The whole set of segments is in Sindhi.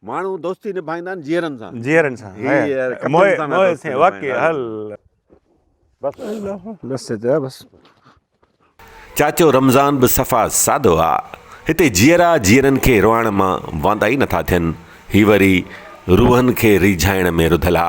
ماڻهو دوستي نڀائيندا آهن جيئرن سان. جيئرن سان. هي يار ڪتن سان دوستي نڀائيندا. بس بس چيا بس. چاچو رمضان به صفا سادو آ. هتي جيئرا جيئرن کي روئاڻ مان واندا ئي نٿا ٿين. هي وري روحن کي ريجهائڻ ۾ رڌل آ.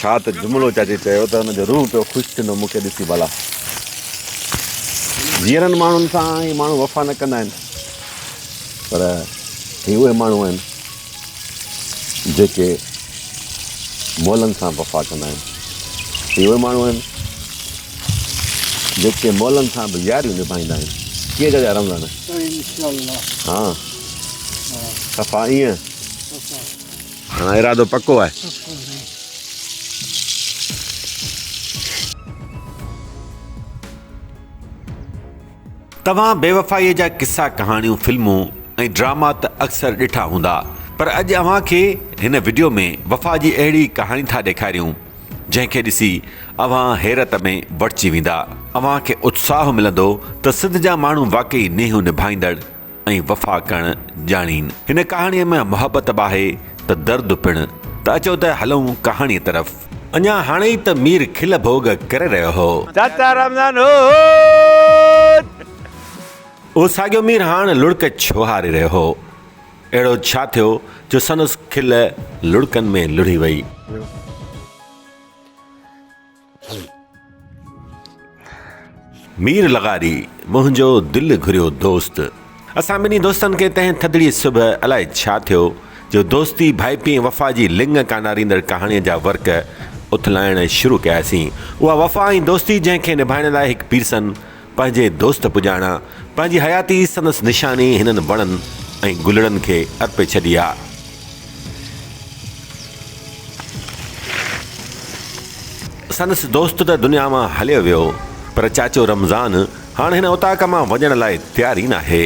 ڇا ته جملو چاچي چيو ته ان جو روح پيو خوش ٿيندو مون کي ڏسي ڀلا جيئرن ماڻهن سان هي ماڻهو وفا نه ڪندا آهن پر هي اهي ماڻهو آهن جيڪي مولن سان وفا ڪندا آهن هي اهي ماڻهو آهن جيڪي مولن سان به ياريون نڀائيندا آهن ڪيئن جا رمضان ها صفا ائين هاڻ ارادو پڪو آهي. توهان بيوفائيء جا قصا ڪهاڻيون فلمون ۽ ڊراما ته اڪثر ڏٺا هوندا پر اڄ اوهان کي هن وڊيو ۾ وفا جي اهڙي ڪهاڻي ٿا ڏيکاريون جنهن کي ڏسي اوهان حيرت ۾ وٺجي ويندا. اوهان کي اتساهه ملندو ته سنڌ جا ماڻهو واقعي نينهون نڀائيندڙ، ۽ وفا ڪرڻ ڄاڻين. هن ڪهاڻيء ۾ محبت به آهي ته درد پڻ، ته اچو ته هلون ڪهاڻيء طرف. اڃا هاڻي ئي ته مير کل ڀوڳ ڪري رهيو هو. چاچا رمضان هوت! اهو ساڳيو مير هاڻ لڙڪ ڇو هاري رهيو هو؟ اهڙو ڇا ٿيو جو سندس کل لڙڪن ۾ لڙهي وئي؟ مير لغاري، منهنجو دل گهريو دوست. اسان ٻنهي دوستن کي تنهن ٿڌڙيء صبح الائي ڇا ٿيو، جو دوستي، ڀائپي ۽ وفا جي لڱ ڪاناريندڙ ڪهاڻيء جا ورق اٿلائڻ شروع ڪياسين. اها وفا ۽ دوستي، جنهن کي نڀائڻ لاء هڪ پيرسن، پنهنجي دوست پڄاڻان، پنهنجي حياتي سندس نشاني هنن وڻن ۽ گلڙن کي ارپي ڇڏي آ. سندس دوست ته دنيا مان هليو ويو، پر چاچو رمضان هاڻ هن اوطاق مان وڃڻ لاء تيار ئي ناهي.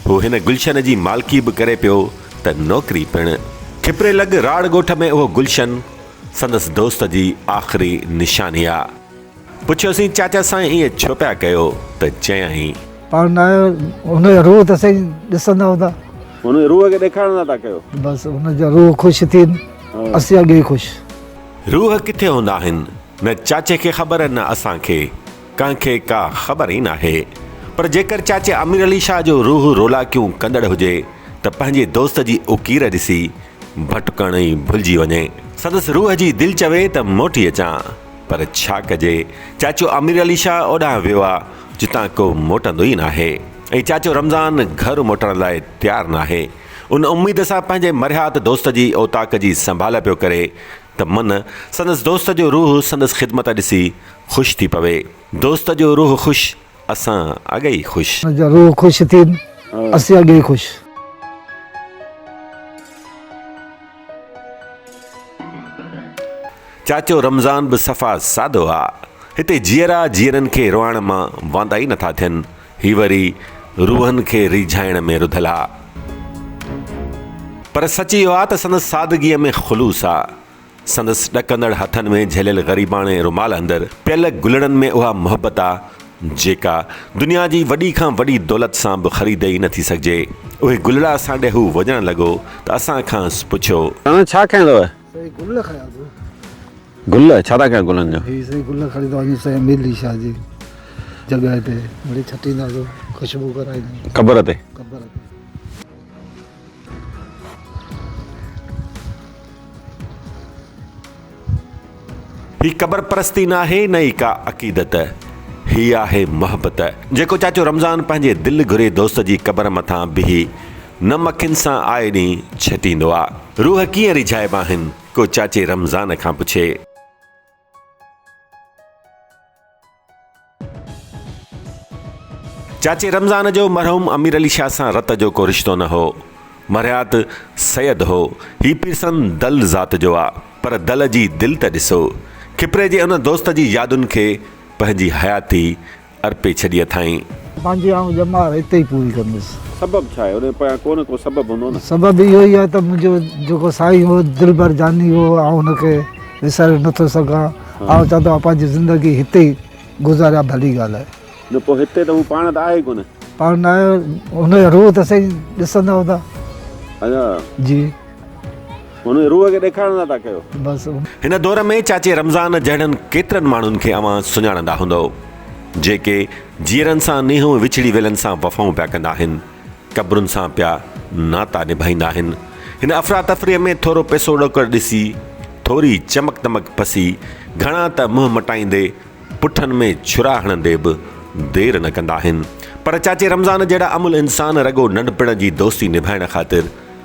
هو هن گلشن جي مالڪي به ڪري پيو ته نوڪري پڻ. ٺپري لڳ راڙ ڳوٺ ۾ اهو گلشن سندس دوست جي آخري نشاني آ. پڇيوسين چاچا سائين ائين ڇو پيا ڪيو ته چيائين. پاڻ نه آيو ان جا روح ته سائين ڏسندا هوندا. ان جي روح کي ڏيکارڻ لاء ٿا ڪيو. بس ان جا روح خوش ٿين اسين اڳي ئي خوش. روح ڪٿي هوندا آهن نه چاچي کي خبر نه اسان کي ڪنهن کي ڪا خبر ئي ناهي پر جيڪر چاچي امير علي شاهه جو روح رولاڪيون ڪندڙ هجي ته پنهنجي دوست جي اڪير ڏسي ڀٽڪڻ ئي ڀلجي وڃي. سندس روح جي دل چوي ته موٽي اچان، پر ڇا ڪجي، چاچو امير علي شاهه اوڏانهن ويو آ، جتان ڪو موٽندو ئي ناهي ۽ چاچو رمضان گهر موٽڻ لاء تيار ناهي. ان اميد سان پنهنجي مرهيات دوست جي اوطاق جي سنڀال پيو ڪري ته من سندس دوست جو روح سندس خدمت ڏسي خوش ٿي پوي. دوست جو روح خوش. اسان اڳي ئي خوش. ان جا روح خوش ٿين اسين اڳي ئي خوش. چاچو رمضان به صفا سادو آ هتي جيئرا جيئرن کي روئڻ مان واندا ئي نٿا ٿين هي وري روحن کي ريجهائڻ ۾ رڌل آ پر سچ اهو آ ته سندس سادگيء ۾ خلوص آ. سندس ڏڪندڙ هٿن ۾ جهليل غريباڻي رومال اندر پيل گلڙن ۾ اها محبت آ، جيڪا دنيا جي وڏي کان وڏي دولت سان به خريد ئي نه ٿي سگهجي. اهي گلڙا اسان ڏي هو وجهڻ لڳو ته اسان کانئس پڇيو. توهان ڇا کنيو اٿو؟ سائين گل کنيا اٿو. گل؟ ڇا ٿا ڪيو گلن جو؟ هي سائين گل کڻي ٿو وڃي سائين ميلي شاهه جي جڳهه تي مڙئي ڇٽيندا سو خوشبو ڪرائيندا. قبر تي؟ قبر تي. هي قبر پرستي ناهي نه ئي ڪا عقيدت، هي آهي محبت. جيڪو چاچو رمضان پنهنجي دل گهري دوست جي قبر مٿان بيهي نم اکين سان آئي ڏينهن ڇٽيندو آ. روح ڪيئن ريجهائبا آهن ڪو چاچي رمضان کان پڇي. چاچي رمضان جو مرحوم امير علي شاهه سان رت جو ڪو رشتو نه هو. مرهيات سيد هو. هي پيرسن دل ذات جو آ، پر دل جي دل ته ڏسو. کپري جي ان دوست جي يادن کي پنهنجي حياتي ارپي ڇڏي اٿائين. پنهنجي آئون ڄمار اتي ئي پوري ڪندس. سبب ڇا آهي؟ ان پويان ڪو نه ڪو سبب هوندو نه. سبب اهو ئي آهي ته منهنجو جيڪو سائين هو، دلبر جاني هو، آئون هن کي وساري نه ٿو سگهان. آئون چوان ٿو آئون پنهنجي زندگي هتي ئي گذاريان ڀلي ڳالهه آهي. نه پوء هتي ته هو پاڻ ته آهي ئي ڪونه. پاڻ نه آهي، هن جو روح ته سائين ڏسندا هوندا. ادا. جي. هن روح کي ڏيکارڻ لاء ٿا ڪيو. بس. هن دور ۾ چاچي رمضان جهڙن ڪيترن ماڻهن کي اوهان سڃاڻندا هوندؤ، جيڪي جيئرن سان نينهون وڇڙي ويلن سان وفائون پيا ڪندا آهن، قبرن سان پيا ناتا نڀائيندا آهن. هن افراتفريء ۾ ٿورو پئسو ڏوڪڙ ڏسي، ٿوري چمڪ دمڪ پسي، گهڻا ته منهن مٽائيندي، پٺن ۾ ڇرا هڻندي به دير نه ڪندا آهن. پر چاچي رمضان جهڙا املهه انسان رڳو ننڍپڻ جي دوستي نڀائڻ خاطر،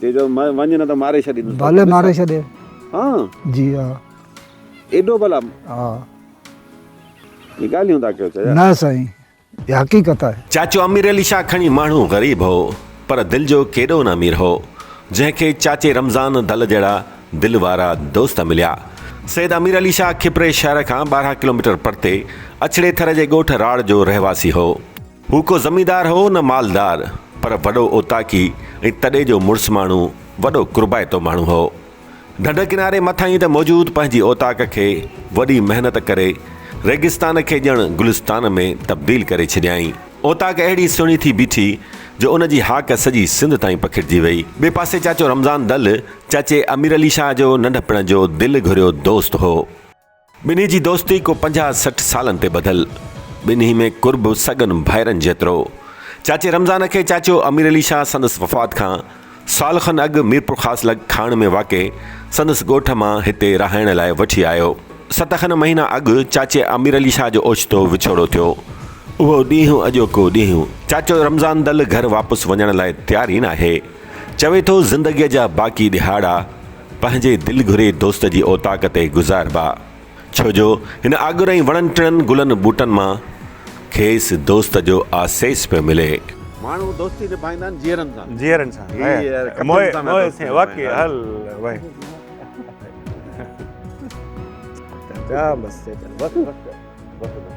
تي چيو وڃ نه ته ماري ڇڏيندس. ڀلي ماري ڇڏي. ها. جي ها. ايڏو ڀلا. ها. هي ڳالهيون ٿا ڪيو چيا. نه سائين اها حقيقت آهي. چاچو امير علي شاهه کڻي ماڻهو غريب هو پر دل جو ڪيڏو نه امير هو جنهن کي چاچي رمضان دل جهڙا دل وارا دوست مليا سيد امير علي شاهه کپري شهر کان ٻارهن ڪلوميٽر پرتي اڇڙي ٿر جي ڳوٺ راڙ جو رهواسي هو. هو ڪو زميندار هو نه مالدار، پر وڏو اوطاقي ۽ تڏي جو مڙس ماڻهو، وڏو قربائتو ماڻهو هو. ڍنڍ ڪناري مٿاهين ته موجود پنهنجي اوطاق کي وڏي محنت ڪري ريگستان کي ڄڻ گلستان ۾ تبديل ڪري ڇڏيائين. اوطاق اهڙي سهڻي ٿي بيٺي جو ان جي هاڪ سڄي سنڌ تائين پکڙجي وئي. ٻئي پاسي چاچو رمضان دل، چاچي امير علي شاهه جو ننڍپڻ جو دل گهريو دوست هو. ٻنهي جي دوستي ڪو پنجاهه سٺ سالن تي ٻڌل. ٻنهي ۾ قرب سڳن ڀائرن جيترو. چاچي رمضان کي چاچو امير علي شاهه سندس وفات کان سال کن اڳ ميرپورخاص لڳ کاڻ ۾ واقع سندس ڳوٺ مان هتي رهائڻ لاء وٺي آيو. ست کن مهينا اڳ چاچي امير علي شاهه جو اوچتو وڇوڙو ٿيو. اهو ڏينهن اڄوڪو ڏينهن. چاچو رمضان دل گهر واپس وڃڻ لاء تيار ئي ناهي. چوي ٿو زندگيء جا باقي ڏهاڙا. پنهنجي دل گهري دوست جي اوطاق تي گذاربا، ڇو جو هن آڳر ۽ وڻن ٽڻن گلن ٻوٽن مان کيس دوست جو آسيس پيو ملي. ماڻهو دوستي نڀائيندا آهن جيئرن سان. جيئرن سان هي يار موهي موهي سين واقعي هل وهي جا بس جا بس بس بس بس.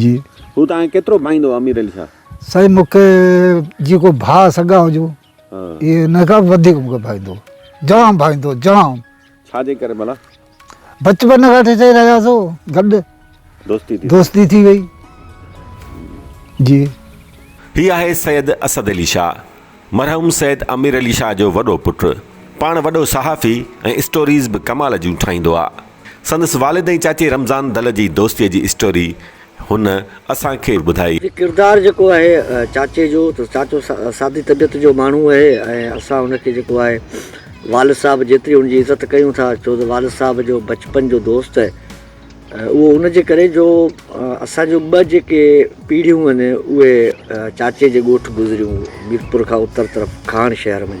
جي هو توهان کي ڪيترو ڀائيندو هو امير علي شاهه؟ سائين مون کي جيڪو ڀاء سڳا هجو اهي ان کان به وڌيڪ مون کي ڀائيندو هو جام ڀائيندو هو جام. ڇا جي ڪري ڀلا؟ بچپن کان وٺي چئي رهيا سو گڏ دوستي ٿي دوستي ٿي وئي جي. هي آهي سيد اسد علي شاهه مرحوم سيد امير علي شاهه جو وڏو پٽ پاڻ وڏو صحافي ۽ اسٽوريز به ڪمال جون ٺاهيندو آ. سندس والد ۽ چاچي رمضان دل جي دوستي جي اسٽوري هن اسان کي ٻڌائي. هي ڪردار جيڪو آهي چاچي جو ته چاچو سادي طبيعت جو ماڻهو اهي ۽ اسان هن کي جيڪو آهي والد صاحب جيتري هن جي عزت ڪيون ٿا ڇو ته والد صاحب جو بچپن جو دوست اهو ان جي ڪري جو اسان جو ٻه جيڪي پيڙهيون آهن اهي چاچي جي ڳوٺ گذريون ميرپور کان اتر طرف کاڻ شهر ۾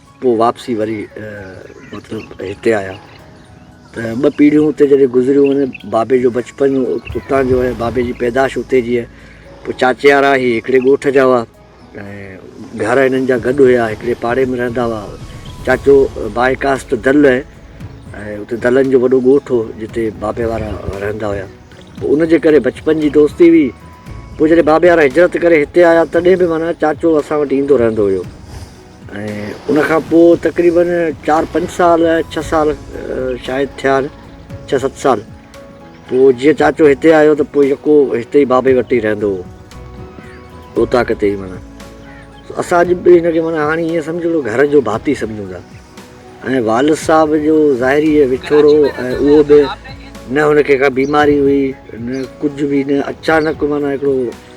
پوء واپسي وري مطلب هتي آيا ته ٻه پيڙهيون اتي جڏهن گذريون آهن بابي جو بچپن اتان جو آهي بابي جي پيدائش اتي جي آهي پوء چاچيارا هي هڪڙي ڳوٺ جا هئا ۽ گهر هنن جا گڏ هيا هڪڙي پاڙي ۾ رهندا هئا چاچو بائي ڪاسٽ دل آهي ۽ اتي دلن جو وڏو ڳوٺ هو جتي بابي وارا رهندا هيا پوء ان جي ڪري بچپن جي دوستي هئي پوء جڏهن بابي وارا هجرت ڪري هتي آيا تڏهن به معنيٰ چاچو اسان وٽ ايندو رهندو هيو ۽ ان کان پوء تقريباً چار پنج سال ڇهه سال شايد ٿيا آهن ڇهه ست سال پوء جيئن چاچو هتي آيو ته پوء يڪو هتي ئي بابي وٽ ئي رهندو هو اوطاق تي ئي معنيٰ اسان اڄ به هن کي معنيٰ هاڻي ائين سمجهو ته گهر جو ڀاتي سمجهون ٿا ۽ والد صاحب جو ظاهري وڇوڙو ۽ اهو به نه هن کي ڪا بيماري هئي نه ڪجهه به نه اچانڪ معنيٰ هڪڙو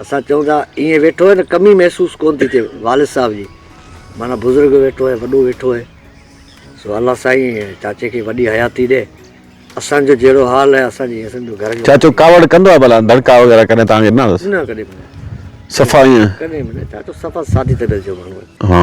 اسان چئون ٿا ايئن ويٺو آهي ته ڪم ئي محسوس ڪونه ٿي ٿئي والد صاحب جي معنيٰ بزرگ ويٺو آهي وڏو ويٺو آهي سو الله سائين چاچي کي وڏي حياتي ڏي اسان جو جهڙو حال آهي اسان جي سمجهو گهر جو چاچو ڪاوڙ ڪندو آهي ڀلا دڙڪا وغيره ڪڏهن توهان کي ڏنا اٿس نه ڪڏهن به نه صفا ايئن ڪڏهن به نه چاچو صفا سادي طبيعت جو ماڻهو آهي ها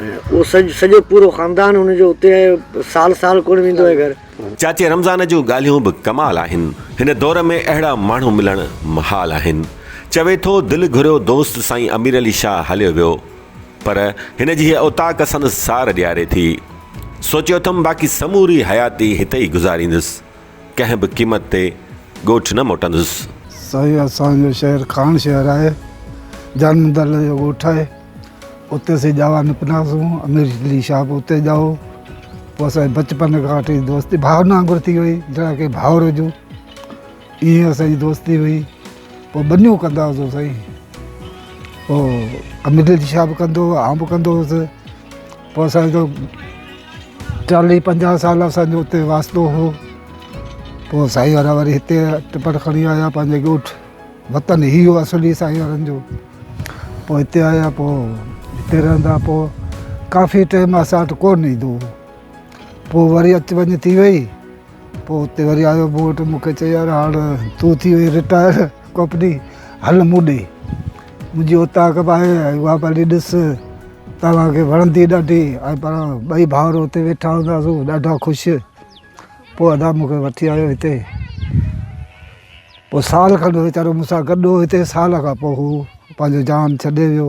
اهو سڄو پورو خاندان هن جو اتي آهي سال سال ڪونه ويندو آهي گهر. چاچي رمضان جون ڳالهيون به ڪمال آهن هن دور ۾ اهڙا ماڻهو ملڻ محال آهن چوي ٿو دل گهريو دوست سائين امير علي شاهه هليو ويو پر هن جي هيء اوطاق سندس سار ڏياري ٿي سوچيو اٿم باقي سموري حياتي هتي ئي گذاريندس ڪنهن به قيمت تي ڳوٺ نه موٽندس. سائين اسان جو شهر خان شهر آهي جان مندل جو ڳوٺ آهي اتي اسين ڄاوا نڪتاسون امير علي شاهه به اتي ڄائو پوء اسان بچپن کان وٺي دوستي ڀائرن وانگر ٿي وئي جهڙا ڪي ڀائر هجون ائين اسان جي دوستي هئي پوء ٻنيون ڪندا هئاسون سائين پوء امير علي شاهه به ڪندو هو آئون به ڪندو هوس پوء اسان جو چاليهه پنجاهه سال اسان جو اتي واسطو هو پوء سائين وارا وري هتي ٽپڙ کڻي آيا پنهنجي ڳوٺ وطن هي هو اصلي سائين وارن جو پوء هتي آيا پوء هتي رهندا پوء ڪافي ٽائيم اسان وٽ ڪو نه ايندو هو پوء وري اچ وڃ ٿي وئي پوء اتي وري آيو مون وٽ مون کي چيو يار هاڻ تون ٿي وئي رٽائر ڪوپني هل مون ڏي منهنجي اوطاق به آهي ۽ اها به هلي ڏس توهان کي وڻندي ڏاڍي ۽ پاڻ ٻئي ڀائر اتي ويٺا هونداسون ڏاڍا خوش پوء ادا مون کي وٺي آيو هتي پوء سال کن ويچارو مون سان گڏ هو هتي سال کان پوء هو پنهنجو جان ڇڏي ويو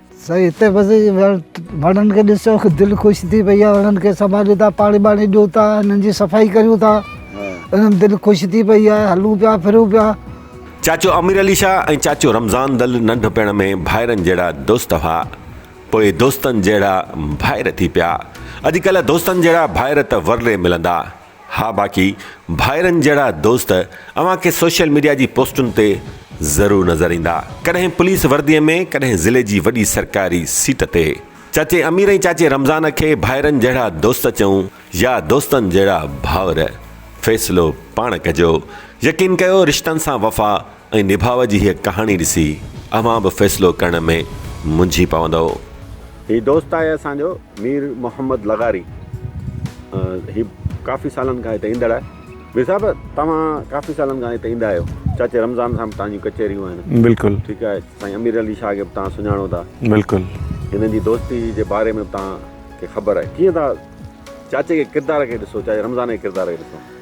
سائين هتي بس وڻن کي ڏسو دل خوش ٿي پئي آهي وڻن کي سنڀاليون ٿا پاڻي ٻاڻي ڏيون ٿا انهن جي صفائي ڪريون ٿا انهن دل خوش ٿي پئي آهي هلون پيا ڦرون پيا چاچو امير علي شاهه ۽ چاچو رمضان دل ننڍپڻ ۾ ڀائرن جهڙا دوست هئا پوء دوستن جهڙا ڀائر ٿي پيا اڄ ڪلهه دوستن جهڙا ڀائر ته ورلي ملندا. ها باقي ڀائرن جهڙا دوست اوهان کي سوشل ميڊيا جي پوسٽن تي ضرور نظر ايندا ڪڏهن پوليس وردي ۾ ڪڏهن ضلعي جي وڏي سرڪاري سيٽ تي چاچي امير ۽ چاچي رمضان کي ڀائرن جهڙا دوست چئون يا دوستن جهڙا ڀائر فيصلو پاڻ ڪجو يقين ڪيو رشتن سان وفا ۽ نڀاء جي هيء ڪهاڻي ڏسي اوهان به فيصلو ڪرڻ ۾ منجهي پوندؤ. هي دوست آهي اسان جو مير محمد لغاري هي ڪافي سالن کان هتي ايندڙ آهي مير صاحب توهان ڪافي سالن کان هتي ايندا آهيو چاچي رمضان سان به توهان جون ڪچهريون آهن بلڪل ٺيڪ آهي سائين امير علي شاهه کي به توهان سڃاڻو ٿا بلڪل هنن جي دوستي جي باري ۾ به توهان کي خبر آهي ڪيئن ٿا چاچي کي ڪردار کي ڏسو چاچي رمضان جي ڪردار کي ڏسو.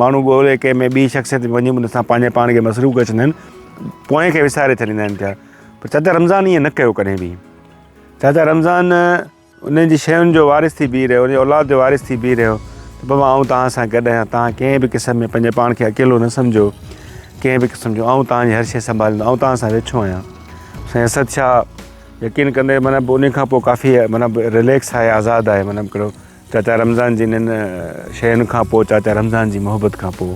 ماڻهو ڳولي ڪنهن ۾ ٻي شخصيت ۾ وڃي ان سان پنهنجي پاڻ کي مصروف ڪري ڇڏيندا آهن پوئين کي وساري ڇڏيندا آهن پيا پر چاچا رمضان ائين نه ڪيو ڪڏهن به چاچا رمضان انهن جي شين جو وارث ٿي بيهي رهيو انهن اولاد جو وارث ٿي بيهي رهيو ته بابا آئون توهان سان گڏ آهيان توهان ڪنهن به قسم ۾ پنهنجي پاڻ کي اڪيلو نه سمجھو ڪنهن به قسم جو آئون توهان جي هر شي سنڀاليندو آئون توهان سان ويٺو آهيان سائين اسد شاهه يقين ڪندي مطلب ان کان پوء ڪافي مطلب ريليڪس آهي آزاد آهي مطلب چاچا رمضان جي انهن شين کان پو چاچا رمضان جي محبت کان پو.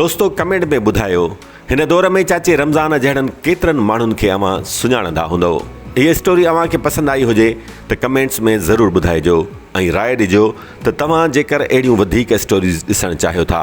دوستو ڪمينٽ ۾ ٻڌايو هن دور ۾ چاچي رمضان جهڙن ڪيترن ماڻهن کي اوهان سڃاڻندا هوندئو هي اسٽوري اوهان کي پسند آئي هجي ته ڪمينٽس ۾ ضرور ٻڌائجو ۽ راء ڏجو ته توهان جيڪر اهڙيون وڌيڪ اسٽوريز ڏسڻ چاهيو ٿا.